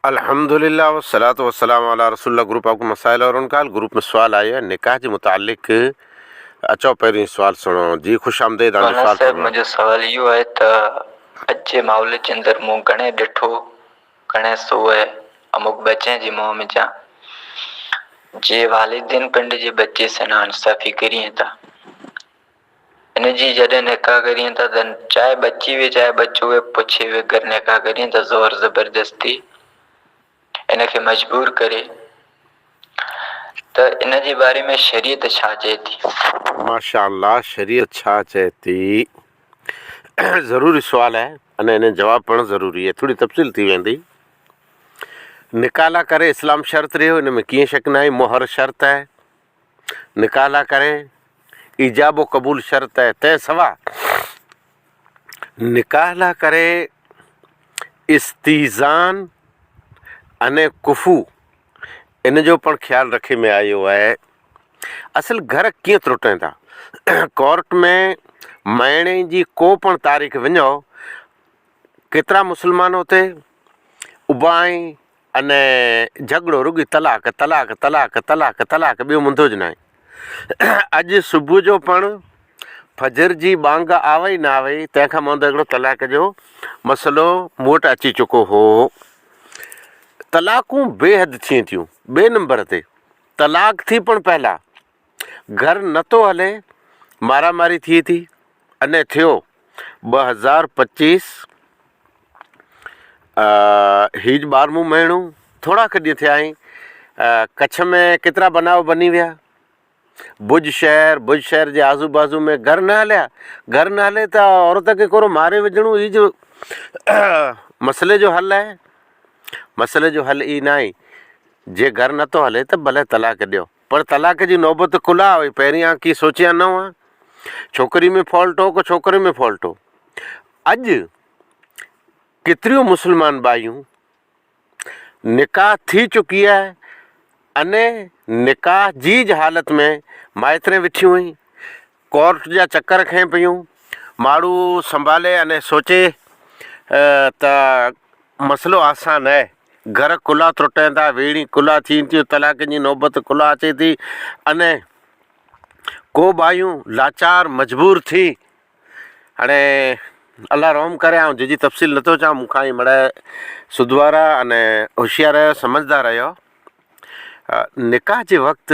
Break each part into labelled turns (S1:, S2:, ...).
S1: الحمدللّٰه والصلوة والسلام علی رسول اللّٰه گروپ آف ڪو مسائل اور ان کا حل گروپ ۾ سوال آيو آهي نڪاح جي متعلق اچو پهريون هي سوال سڻو جي خوش آمديد هاڻي سوال سائين صاحب منهنجو
S2: سوال اهو آهي ته اڄ جي ماحول جي اندر مون گهڻي ڏٺو گهڻي سوء اموڪ ٻچي جي منهن ۾ جان جي والدين پنڊ جي ٻچي سين هاڻ صافي ڪرين ٿا ان جي جڏهن نڪاح ڪرين ٿا ته چاهي ٻچي هئي چاهي ٻچو هئي پڇي وگر نڪاح ڪرين ٿا زور زبردستي ان کي مجبور ڪري ته ان جي باري ۾ شريعت ڇا چئي ٿي. ماشاء الله
S1: شريعت ڇا چئي ٿي ضروري سوال آهي اني اني جواب پڻ ضروري آهي ٿوري تفصيل ٿي ويندي نڪاح لا ڪري اسلام شرط رهيو ان ۾ ڪيئن شڪ ناهي مهر شرط آهي. نڪاح لاء ڪرين، ايجاب و قبول شرط آهي، تنهن سوا نڪاح لاء ڪري استيذان ان ڪفو ان جو پڻ خيال رکي ۾ آيو آهي. اصل گهر ڪيئن ترٽين ٿا؟ ڪورٽ ۾ مهيني جي ڪو پڻ تاريخ وڃئو، ڪيترا مسلمان اتي اڀا آهن، ان جهڳڙو رڳي طلاق طلاق طلاق طلاق طلاق ٻيو منڌوج ناهي اڄ صبح جو پڻ فجر جي ٻانگ آوئي نه آوئي تنهن کان مهندو هڪڙو طلاق جو مسئلو مون وٽ اچي چڪو هو طلاقون بي حد ٿين ٿيون ٻي نمبر تي طلاق ٿي پڻ پهلا گهر نه ٿو هلي مارا ماري ٿئي ٿي انهي ٿيو ٻه هزار پچيس هيج ٻارمون مهينو ٿورا کي ڏينهن ٿيا آهين ڪڇ ۾ ڪيترا بناء بني ويا بج شهر بج شهر جي آزو بازو ۾ گهر نه هليا گهر نه هلي ته عورت کي ڪورو ماري وجهڻو هيج مسئلي جو حل آهي مسئلي جو حل هي ناهي جي گهر نه ٿو هلي ته ڀلي طلاق ڏيو پر طلاق جي نوبت ڪل آ وئي، پهرين آ ڪي سوچيان نه هئا. ڇوڪري ۾ فالٽ هو ڪو ڇوڪري ۾ فالٽ هو. اڄ ڪيتريون مسلمان ٻايون نڪاح ٿي چڪي آ اني نڪاح جيج حالت ۾ مائترين وٺيون هين ڪورٽ جا چڪر کنئي پيون. ماڙهو سنڀالي اني سوچي ته مسئلو آسان ناهي. گهر ڪلها ترٽين ٿا، ويڙهين ڪلها ٿين ٿيون، طلاقن جي نوبت ڪلها اچي ٿي اني ڪو ٻايون لاچار مجبور ٿي هاڻي الله رحم ڪري آئون ججي تفصيل نٿو چان مون کان هي مڙهي سڌوارا اني هوشيار سمجهدار رهيو نڪاح جي وقت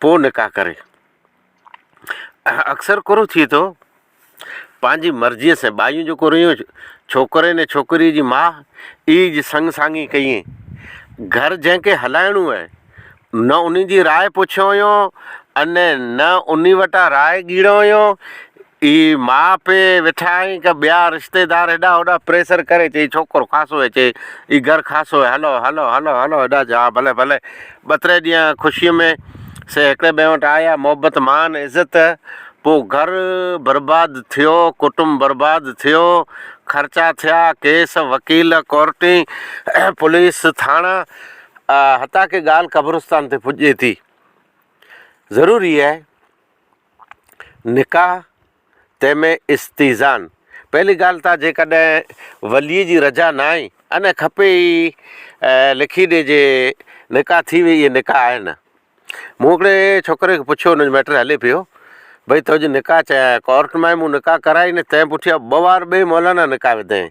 S1: پوء نڪاح ڪري. اڪثر ڪرو ٿئي ٿو پنهنجي مرضيء سين ٻايون جو ڪريون ڇوڪرين ۽ ڇوڪريء جي ماء ئي جي سڱ ساڱي ڪيئين. گهر جنهن کي هلائڻو هئي، نه انهي جي راء پڇيو هيون ۽ نه انهي وٽان راء ڳيڙيو هيون. اي ماء پي ويٺا آهين ڪه ٻيا رشتيدار هيڏانهن هوڏانهن پريسر ڪري چئي ڇوڪرو خاصو هي چئي اي گهر خاصو هي هلو هلو هلو هلو هيڏانهن چئي ها ڀلي ڀلي ٻه تري ڏينهن خوشي ۾ سي هڪڙي ٻئي وٽ آيا محبت مان عزت پو گهر برباد ٿيو ڪٽنب برباد ٿيو خرچا ٿيا ڪيس وڪيل ڪورٽين پوليس ٿاڻا حتيٰ ڪه ڳالهه قبرستان تي پڄي ٿي ضروري هي. نڪاح، تنهن ۾ استيذان، پهلي ڳالهه ته جيڪڏهن وليء جي رضا نه آئي ان کپي ئي لکي ڏي جي نڪاح ٿي ويئي اهي نڪاح آهن. مون هڪڙي ڇوڪري کي پڇيو ان جو ميٽر هلي پيو ڀئي تنهنجي نڪاح چيائين ڪورٽ مان ئي مون نڪاح ڪرائي نه تنهن پٺيان ٻه وار ٻئي مولانا نڪاح وڌائين.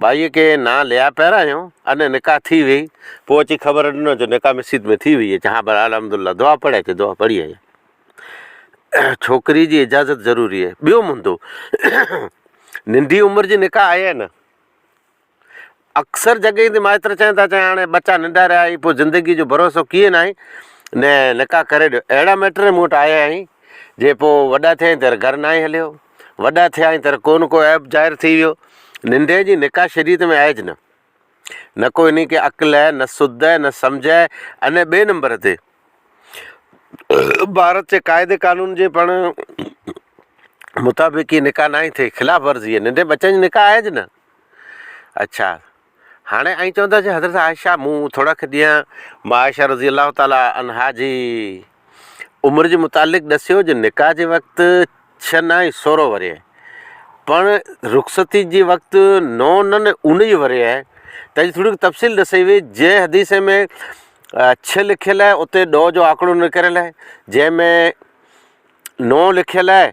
S1: ٻائيء کي نان ليا پيرايو ۽ نڪاح ٿي ويئي. پوء اچي خبر ڏنو جو نڪاح مسيت ۾ ٿي ويئي اچ ها پر الحمد الله دعا پڙهي اچ دعا پڙهي آيا. ڇوڪري جي اجازت ضروري آهي. ٻيو مندو ننڍي عمر جي نڪاح آهي نه. اڪثر جڳهين تي مائتر چون ٿا چون هاڻي ٻچا ننڍا رهيا آهي پوء زندگي جو ڀروسو ڪيئن آهي نه نڪاح ڪري ڏيو. اهڙا ميٽر مون وٽ آيا آهي جي پوء وڏا ٿيا آهن ته گهر ناهي هليو. وڏا ٿيا ۽ تر ڪو نه ڪو عيب ظاهر ٿي ويو. ننڍي جي نڪاح شريعت ۾ آهيج نه. نه ڪو انهي کي عقل هي، نه سڌ هي، نه سمجهه هي. انهي ٻئي نمبر تي ڀارت جي قاعدي قانون جي پڻ مطابق هي نڪاح ناهي ٿئي، خلاف ورزي هي. ننڍي ٻچن جي نڪاح آهيج نه. اڇا! هاڻي آئين چوندس جو حضرت عائشه مون ٿورا کي ڏينهن مان عائشه رضي الله تعالٰي عنها جي عمر جي متعلق ڏسيو جو نڪاح جي وقت ڇهه نه ۽ سورهن ورهيه پڻ رخصتي جي وقت نو نه نه اونهيهه ورهيه تنهن جي ٿوري تفصيل ڏسي وئي جنهن حديث ۾ ڇهه لکيل آهي اتي ڏهه جو آنڪڙو نڪريل آهي جنهن ۾ نو لکيل آهي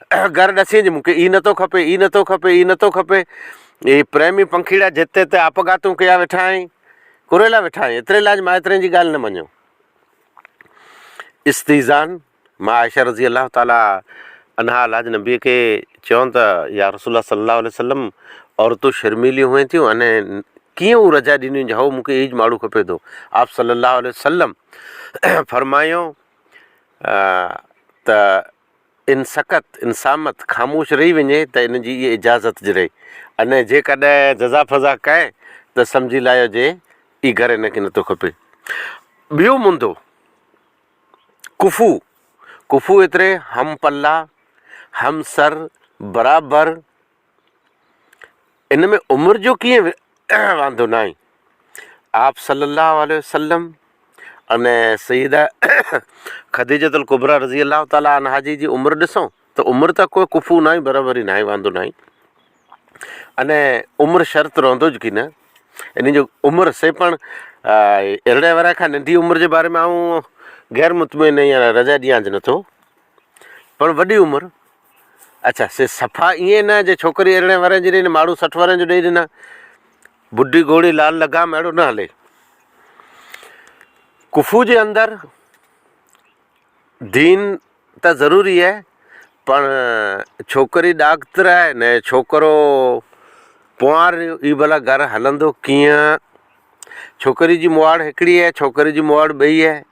S1: گهر ڏسين جي مون کي ئي نٿو کپي، ئي نٿو کپي، ئي نٿو کپي. هي پريمي پنکيڙا جت تي آپگهاتون ڪيا ويٺا آهين. ڪري لا ويٺا آهين. ايتري لاء اڄ مائترين جي ڳالهه نه مڃو. استيذان، مان عائشه رضي الله تعالٰي عنها لاج نبي کي چيون ته يا رسول الله صلي الله عليه وسلم عورتون شرميليون هئين ٿيون انهي ڪيئن هو رجاء ڏنيون جي هئو مون کي ايج ماڙهو کپي ٿو. آپ صلي الله عليه وسلم فرمايون ته ان سڪت، ان صامت، خاموش رهي وڃي ته ان جي اهي اجازت جري انهي جي ڪڏهن جزا فضا ڪئي ته سمجهي لايو جي اي گهر ان کي نه ٿو کپي. ٻيو منڌو ڪفو، ڪفو ايتري همپلا، همسر، برابر، ان ۾ عمر جو ڪيئن واندو ناهي. آپّ صلّي اللّٰه عليه وسلّم ۽ سيّده خديجّة الڪبريٰ رضي الله تعالٰي عنها جي جي عمر ڏسون ته عمر ته ڪو ڪفو ناهي برابر ئي ناهي واندو ناهي. ان عمر شرط رهندو جي ڪي نه ان جو عمر سي پڻ ارڙهن ورهين کان ننڍي عمر جي باري ۾ آئون غير مطمئن رضا ڏيانج نٿو پڻ وڏي عمر اڇا سي صفا ائين نه جي ڇوڪري ارڙهن ورهين جي ڏئي نه ماڙهو سٺ ورهين جو ڏئي ڏنا. بڍي گهوڙي لال لگام اهڙو نه هلي. ڪفو جي اندر دين ته ضروري آهي پڻ ڇوڪري ڏاڪتر آهي نه ڇوڪرو پوار هي ڀلا گهر هلندو ڪيئن. ڇوڪري جي مواڙ هڪڙي آهي ڇوڪري جي مواڙ ٻئي آهي.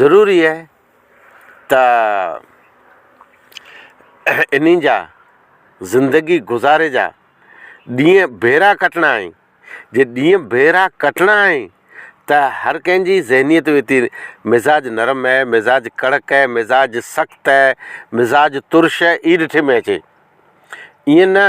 S1: ضروري آهي ته انهن جا زندگي گذاري جا ڏينهن ڀيرا ڪٽڻا آهن جي ڏينهن ڀيرا ڪٽڻا آهن ته هر ڪنهن جي ذهنيت به ايتري مزاج نرم اهي مزاج ڪڙڪ اهي مزاج سخت اهي مزاج ترش اهي ڏٺي ۾ اچي ايئن نه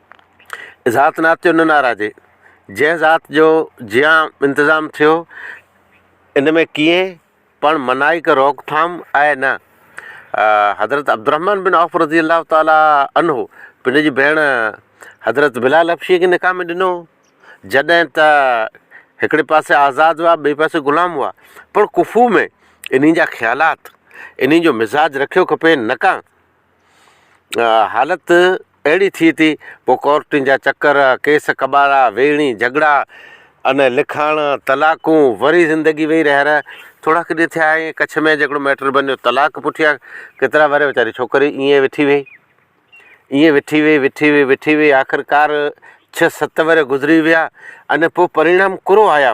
S1: ذات نات جو نه ناراضي، جنهن ذات جو جيان انتظام ٿيو، ان ۾ ڪيئين پڻ منائي ڪه روڪ ٿام آهي نه. حضرت عبدالرحمٰن بن عوف رضي الله تعالٰي عنه پنهنجي ڀيڻ حضرت بلال حبشيء کي نڪاح ۾ ڏنو هو، جڏهن ته هڪڙي پاسي آزاد هئا، ٻئي پاسي غلام هئا، پڻ ڪفو ۾ انهيء جا خيالات، انهيء جو مزاج رکيو کپي نڪا. حالت اهڙي ٿئي ٿي پوء ڪورٽن جا چڪر ڪيس ڪٻارا ويڙهي جهڳڙا ان لکاڻ طلاقون وري زندگي وئي رهر ٿورا ڪي ڏينهن ٿيا ائين ڪڇ ۾ جهڙو ميٽر بنيو طلاق پٺيا ڪيترا وري ويچاري ڇوڪري ائين وٺي وئي ائين وٺي وئي وٺي وئي وٺي وئي آخرڪار ڇهه ست وري گذري ويا ان پوء پريڻام ڪورو آيا